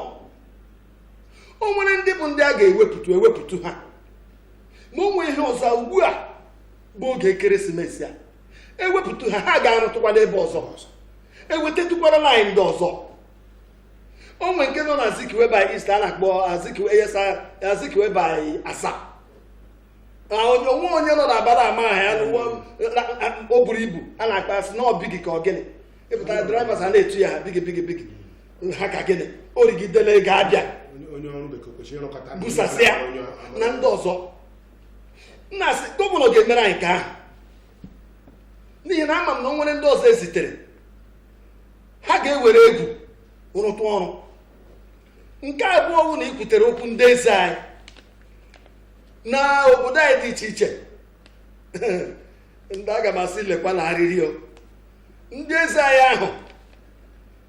o nwere ndị bụ ndị a ga-ewepụtụ ewepụtụ ha ma o nwee ihe ọzọ ugbu a bụ oge ekeresimesi a ewepụtụ ha ha ga-arụtụkwa n'ebe ọzọ ọzọ ewetatụkwara anyị ndị ọzọ o nwee nke nọ na azikiwe by east a na-akpọ azikiwe by asa onye o nwe onye nọ na aba la-amaha ya o buru ibu a na-akpọ ya sị na ọ bigi ka ọ gịnị ị pụtara drivers a na-etu ya bigi bigi bigi ha ka gịnị o rigidela ego a bịa busasịa na ndị ọzọ nna a sị gọvanọ ga-emere anyị nke ahụ n'ihi na ama m na o nwere ndị ọzọ ezitere ha ga-ewere egwu rụtụ ọrụ nke abụọ bụ na i kwutere okwu ndị eze anyị na obodo anyị dị iche iche ndị aga m asị lekwa na arịrịọ ndị eze anyị ahụ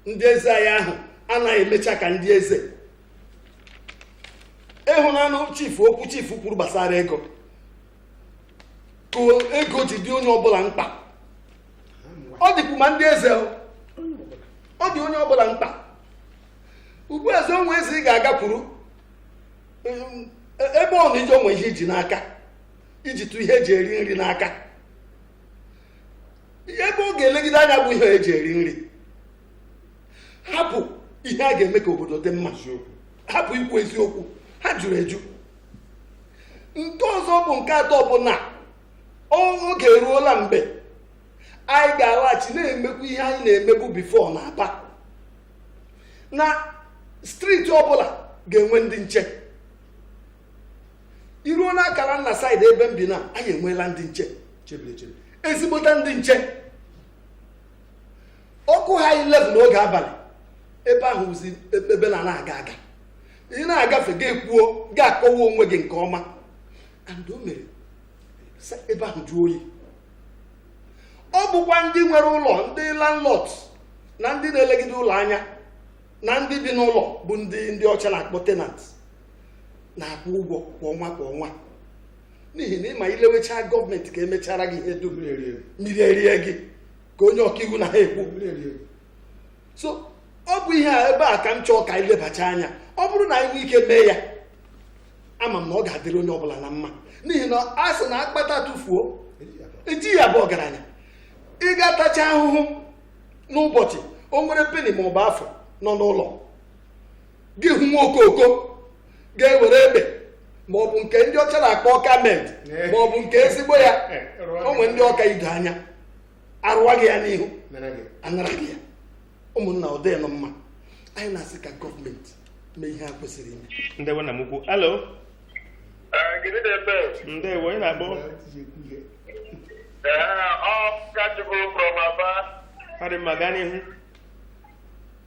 ndị eze anyị ahụ anaghị emecha ka ndị eze ị hụnanụ chifu okwu chifu kwuru gbasara ego ka ego ji dị onye ọbụla mkpa ọ dịkwu ma ndị eze ọ dị onye ọbụla mkpa ugbu a eze o nwe eze ị ga-agakwuru ebe ọ nọ i jee o nwe ihe i ji n'aka i jitụ ihe eji eri nri n'aka ebe ọ ga-elegide anya bụ ihe eji eri nri hapụ ihe a ga-eme ka obodo dị mma hapụ ikwu eziokwu ha juru eju nke ọzọ bụ nke atọ bụ na oge eruola mgbe anyị ga-alaghachi na-emekwu ihe anyị na-emebu before na aba na street ọbụla ga-enwe ndị nche i ruo n'akara nna side ebe m bi na anyị enweela ndị nche ezigbota ndị nche ọ kụọha 11 n'oge abalị ebe ahụ zi ebe na na-aga aga ị na-agafe gị ekwuo gị akọwa onwe gị nke ọma and o mere ebe ahụ jụọ oyi ọ bụkwa ndị nwere ụlọ ndị landlord na ndị na-elegide ụlọ anya na ndị bi n'ụlọ bụ ndị ndị ọcha na-akpọ tenant na-akwụ ụgwọ kwa ọnwa kwa ọnwa n'ihi na ị ma i lewechaa gọọmenti ka emechara gị ihe dum mmiri erie gị ka onye ọkaiwu na ha ekwu so ọ bụ ihe a ebe a ka m chọrọ ka anyị lebacha anya ọ bụrụ na anyị nwee ike mee ya ama m na ọ ga-adịrị onye ọbụla na mma n'ihi na a sị na akpata atụfuo eji ya abụ ọgaranya ị ga-atacha ahụhụ n'ụbọchị o nwere peni ma ọ bụ afụ nọ n'ụlọ gị hụ nwa okoko ga-eburu egbe ma ọ bụ nke ndị ọcha na-akpọ Ọka made ma ọ bụ nke ezigbo ya o nwere ndị ọ ka ido anya arụwa gị ya n'ihu anara gị ya ụmụnna ọ dịghị nụ mma anyị na-asị ka gọọmenti mee ihe a kwesịrị ime ndewo nna m ukwu hello ndewo onye na-akpọ Okechukwu from Aba ọ dị mma gaa n'ihu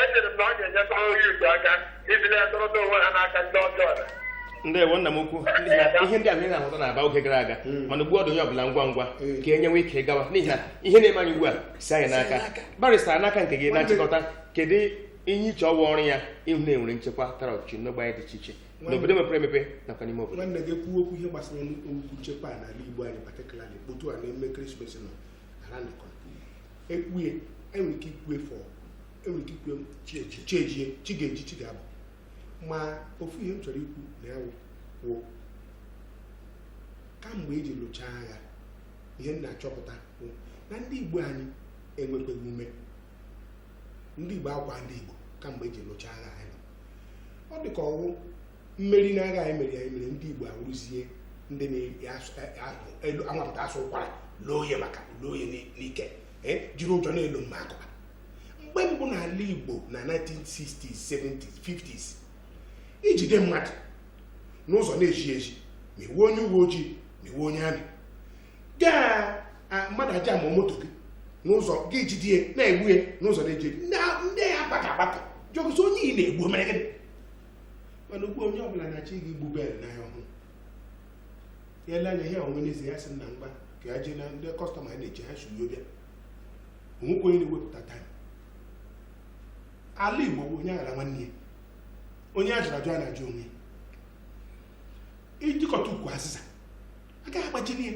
echere m na ọ ga-enyekwa onye Igbo aka iji na-edọrọta onwe ha n'aka ndị ọjọọ na ndewo nna m ukwu n'ihi na ihe ndị ahụ ị na-ahụta n'Aba oge gara aga mana ugbu ọ dị onye ọbụla ngwa ngwa ka e nyewe ike gawa n'ihi na ihe na-eme anyị ugbu a si anyị n'aka barịsta n'aka nke gị na nchịkọta kedu ihe i che ọ wụ ọrụ ya ịhụ na enwere nchekwa tara ọchịchị n'ogbe anyị dị iche iche n'obodo mepere emepe nakwa n'ime obodo nwanne gị kwuo okwu ihe gbasara okwu nchekwa a n'ala Igbo anyị particularly otu a na-eme ekeresimesi nọ na round the corner ekwue enwere ike ikwu ya for enwere ike ikwu ya chi ejie chi ejie chi ga-eji chi ga-abọ ma ofu ihe m chọrọ ikwu na ya wụ wụ kamgbe eji lụchaa agha ihe m na-achọpụta bụ na ndị igbo anyị enwekweghị ume ndị igbo awụkwa ndị igbo kamgbe eji lụchaa agha anyị nọ. ọ dị ka ọ wụ mmeri n'agha e meri anyị mere ndị Igbo awụrụzie ndị na-akwapụta asụ ụkwara eloo ya maka loo ya n'ike jiri ụjọ na-elo maka ọ bụ mgbe mbụ n'ala Igbo na 1960s 70s 50s i jide mmadụ n'ụzọ n'ezi ezi ma ị wụ onye uwe ojii ma ị wụ onye army gaa mmadụ ajam moto gị n'ụzọ gị jidie na-egbu ya n'ụzọ n'ezi ndị ya agbakọ agbakọ jụọzie onye ị na-egbu mere gịnị mana ugbu onye ọbụla na-achọ ịga igbu bale n'ahịa ọhụrụ ya ele anya ihe ọ wụ n'ezi ya sị nna mba ka ya jee na ndị kọstọma ya na-eche ya sị ya bịa o nwekwa onye na-ewepụta taịm ala igbo bụ onye aghara nwanne ya onye ajụrụ ajụ anaghị ajụ onwe ya i jikọta ukwu azịza agaghị agbajili ya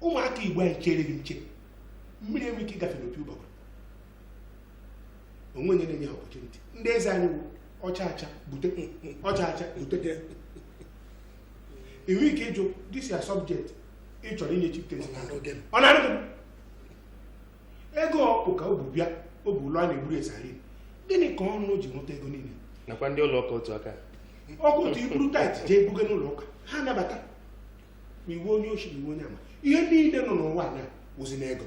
ụmụaka igbo anyị chere gị nche mmiri enwee ike ịgafe n'opi ụgbọgụrụ o nwe onye na-enye ha opportunity ndị eze anyị wụ ọcha acha bute ọcha acha bute enwe ike ịjụ this your subject ị chọrọ inye chieftaincy Ọ na-adị m. ọ na-adị m ego ọkpụ ka o bu bịa o bu ụlọ a na-egburu eze anyị gịnị ka ọnụ ji nweta ego niile nakwa ndị ụlọ ụka otu aka ahụ otu i buru tithe jee buga n'ụlọ ụka ha nabata ma ị wụ onye oshi ma ị wụ onye ama ihe niile nọ n'ụwa na wụzi n'ego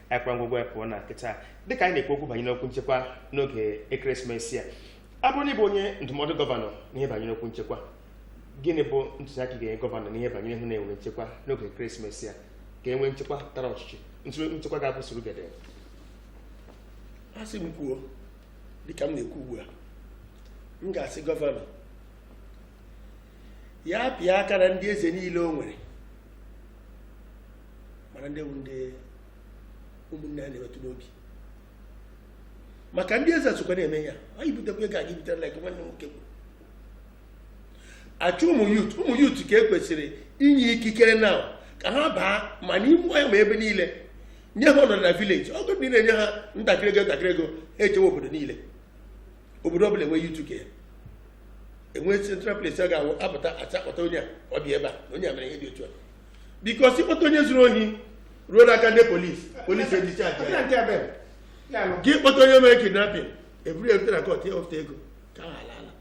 ekwe ngwụgwọ ya pụọ na nkịta dịka anyị na-ekwu okwu banyere okwu nchekwa n'oge ekeresimesi a ọ bụrụ na ị bụ onye ndụmọdụ gọvanọ n'ihe banyere okwu nchekwa gịnị bụ ntụziaka ị ga-enye gọvanọ n'ihe banyere ịhụ na e nwere nchekwa n'oge ekeresimesi a ka e nwee nchekwa tara ọchịchị ntụrụ nchekwa ga-abụ surugede a sị m kwuo dịka m na-ekwu ugbu a m ga-asị gọvanọ ya pịa aka na ndị eze niile o nwere mana ndị ndị ụmụnne ha na-emetụ n'obi maka ndị eze sokwa na-eme ya anyị butekwa ego aga ibutela like nwanne nwoke kwuru a chọọ ụmụ youth ụmụ youth ka e kwesịrị inye ikikere na ka ha baa ma n'ime ọhịa ma ebe niile nye ha ọnọdụ na village obodo niile nye ha ntakịrị ego ntakịrị ego ha echewe obodo niile obodo ọbụla enwee youth ke ya enwee central place a ga-apụta a ga-akpọta onye a ọ bịa ebe a na onye a mere ihe dị otu a because ị kpọta onye zuru ohi ruo n'aka ndị police police ejicha aja ya. nke ebe ya nọ gị kpọta onye mere kidnapping e buru ya rute na court ya ofụta ego ka ha ala ala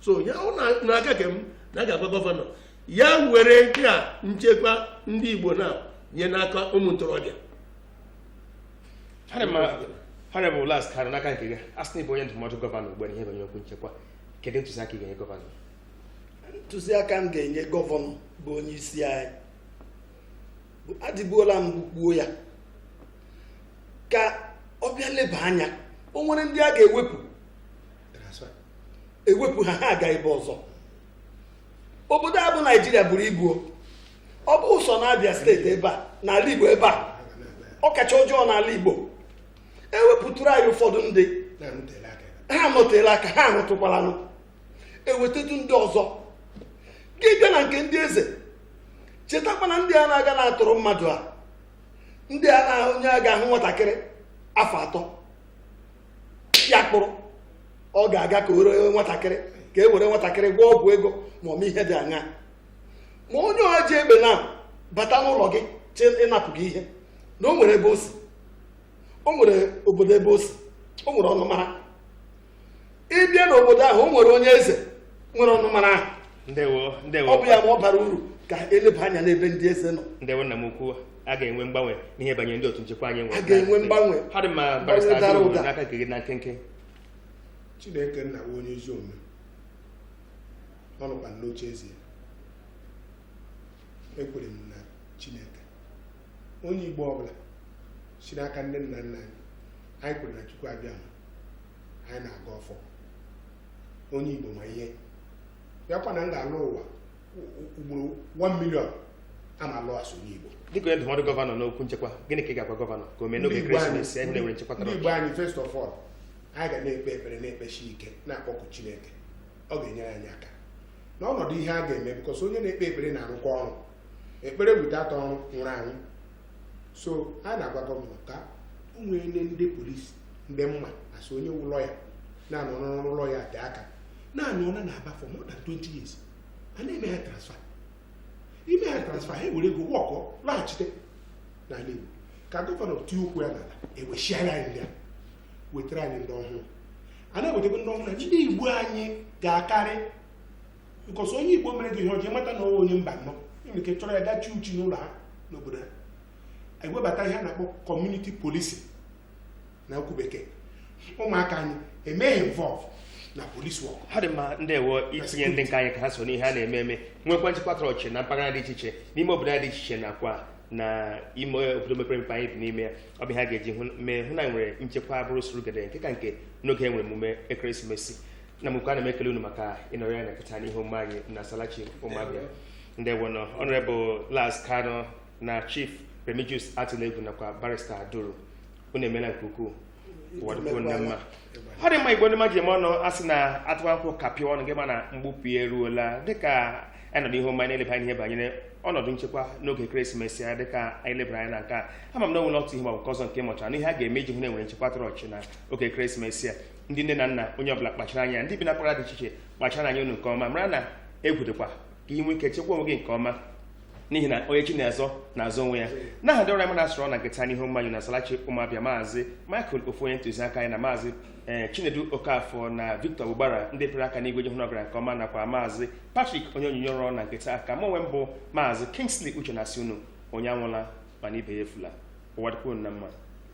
so ya wụ n'aka ke m na a ga-agwa gọvanọ ya were nke a nchekwa ndị igbo na nye n'aka ụmụ ntorobịa Harị ma harị bụ last karị n'aka nke gị a sị na ị bụ onye ndụmọdụ gọvanọ ugbu a na ihe banyere okwu nchekwa kedu ntụziaka ị ga-enye gọvanọ ntụziaka m ga-enye gọvanọ bụ onye isi anyị adịbuola mbụ kwuo ya ka ọ bịa leba anya o nwere ndị a ga-ewepụ ewepụ ha ha aga ebe ọzọ obodo a bụ naijiria buru ibu ọ bụghị sọ na abịa steeti ebe a n'ala igbo ebe a ọ kacha ọjọọ n'ala igbo e wepụtụrụ anyị ụfọdụ ndị ha anọteela aka ha anọtụkwalanụ e wetetụ ndị ọzọ gị bịa na nke ndị eze chetakwana ndị a na-aga na-atọrọ mmadụ a ndị a na onye a ga-ahụ nwatakịrị afọ atọ ya kpụrụ ọ ga-aga ka o ree nwatakịrị ka e were nwatakịrị gwọọ ọgwụ ego ma ọ ihe dị anya ma onye ahụ ji egbe na-abata n'ụlọ gị che ịnapụ gị ihe na o nwere ebe o si o nwere obodo ebe o si o nwere ọnụmara ị bịa n'obodo ahụ o nwere onye eze nwere ọnụmara ahụ ndewo ndewo ọ bụ ya ma ọ bara uru ka eleba anya n'ebe ndị eze nọ ndewo nna m ukwu a ga-enwe mgbanwe n'ihe banyere ndị otu nchekwa anyị nwere a ga-enwe mgbanwe ha dị mma barịsta Mgbanwe dara ụda. n'aka nke gị na nkenke chineke nna bụ onye ezi omume ọ nọkwa n'oche eze ya ekwere m na chineke onye igbo ọbụla si n'aka ndị nna nna anyị anyị kwuru na chukwu abịama anyị na-agọ ọfọ onye igbo ma ihe bịakwa na m ga-alọ ụwa u- u- ugboro 1 million a m alọ as onye igbo dịka onye ndụmọdụ gọvanọ n'okwu nchekwa gịnị ka ị ga-agwa gọvanọ ka o mee n'oge Ndị Igbo anyị- ekeresimesi anyị na-enwere nchekwa tara ndị igbo anyị first of all anyị ga na-ekpe ekpere na-ekpesi ike na-akpọku chineke ọ ga-enyere anyị aka n'ọnọdụ ihe a ga-eme because onye na-ekpe ekpere na-arụkwa ọrụ ekpere without ọrụ nwụrụ anwụ so a na-agwa gọvanọ ka o nwee ndị ndị polisi ndị m ma as onye wụ lọya na-anọ n'ọrụ lọya tee aka na-anọ na na aba for more than 20 years a na-eme ha transfer e mee ha transfer ha ewere ego work laghachite n'ala Igbo ka gọvanọ tie ụkwụ ya n'ala ewechighara anyị ndị a wetara anyị ndị ọhụrụ a na-ewetakwa ndị ọhụrụ ndị Igbo anyị ga-akarị because onye igbo mere gị ihe ọjọọ ị mata na ọ wụ onye mbanọ e nwere ike chọrọ ya gaa chi uchi n'ụlọ ha n'obodo ha ewebata ihe a na-akpọ kọmuniti polisi na okwu bekee ụmụaka anyị e mee ha involve na polisi work ha dị mma ndewo itinye ndị nke anyị ka ha so n'ihe a na-eme eme nwekwa nchekwa tara ọchị na mpaghara dị iche iche n'ime obodo anyị dị iche iche nakwa na ime obodo mepere emepe anyị bi n'ime ya ọ bụ ihe a ga-eji mee hụ na anyị nwere nchekwa bụrụ surugede nke ka nke n'oge e nwere emume ekeresimesi na mgbe ana m ekele unu maka ịnọrọ anyị na nke taa n'ihe omume anyị na salachi ụmụ abịa ndewonụ ọnọrebụl laz kanu na chief remigius atulegwu nakwa barista aduru unu emeela nke ukwuu ụwa dịkwuo unu mma ọ dị mma igbo ndị mmadụ ji eme ọnụ a sị na atụwa nkwụ kapịa ọnụ gị ma na mgbupụ ya eruola dịka anyị nọ n'ihe omume anyị na-eleba anya ihe banyere ọnọdụ nchekwa n'oge ekeresimesi a dịka anyị lebara anya na nke a ama m na o nwere otu ihe ma ọ bụ nke ọzọ nke ị mụtara na ihe a ga-eme iji hụ na e nwere nchekwa tara ọchị na oge ekeresimesi a ndị nne na nna onye ọbụla kpachara anya ndị bi na mpaghara dị iche iche kpachara anya unu nke ọma mara na egwu dịkwa ka ị nwee ike chekwa onwe gị nke ọma n'ihi na onye chi na-azọ na-azọ onwe ya n'aha ndị ọrụ anyị na ha so rụọ na nke taa n'ihe omume anyị na salachi ụmụ abịa maazị michael ofu onye ntụziaka anyị na maazị ee chinedu okafọ na victor ugbara ndị pịrị aka n'igwe iji hụ na ọ gara nke ọma nakwa maazị patrick onye onyinye ọrụ na nke taa aha mụ onwe m bụ maazị kingsley uche na-asị unu onye anwụla mana ibe ya efula ụwa dịkwuo unu mma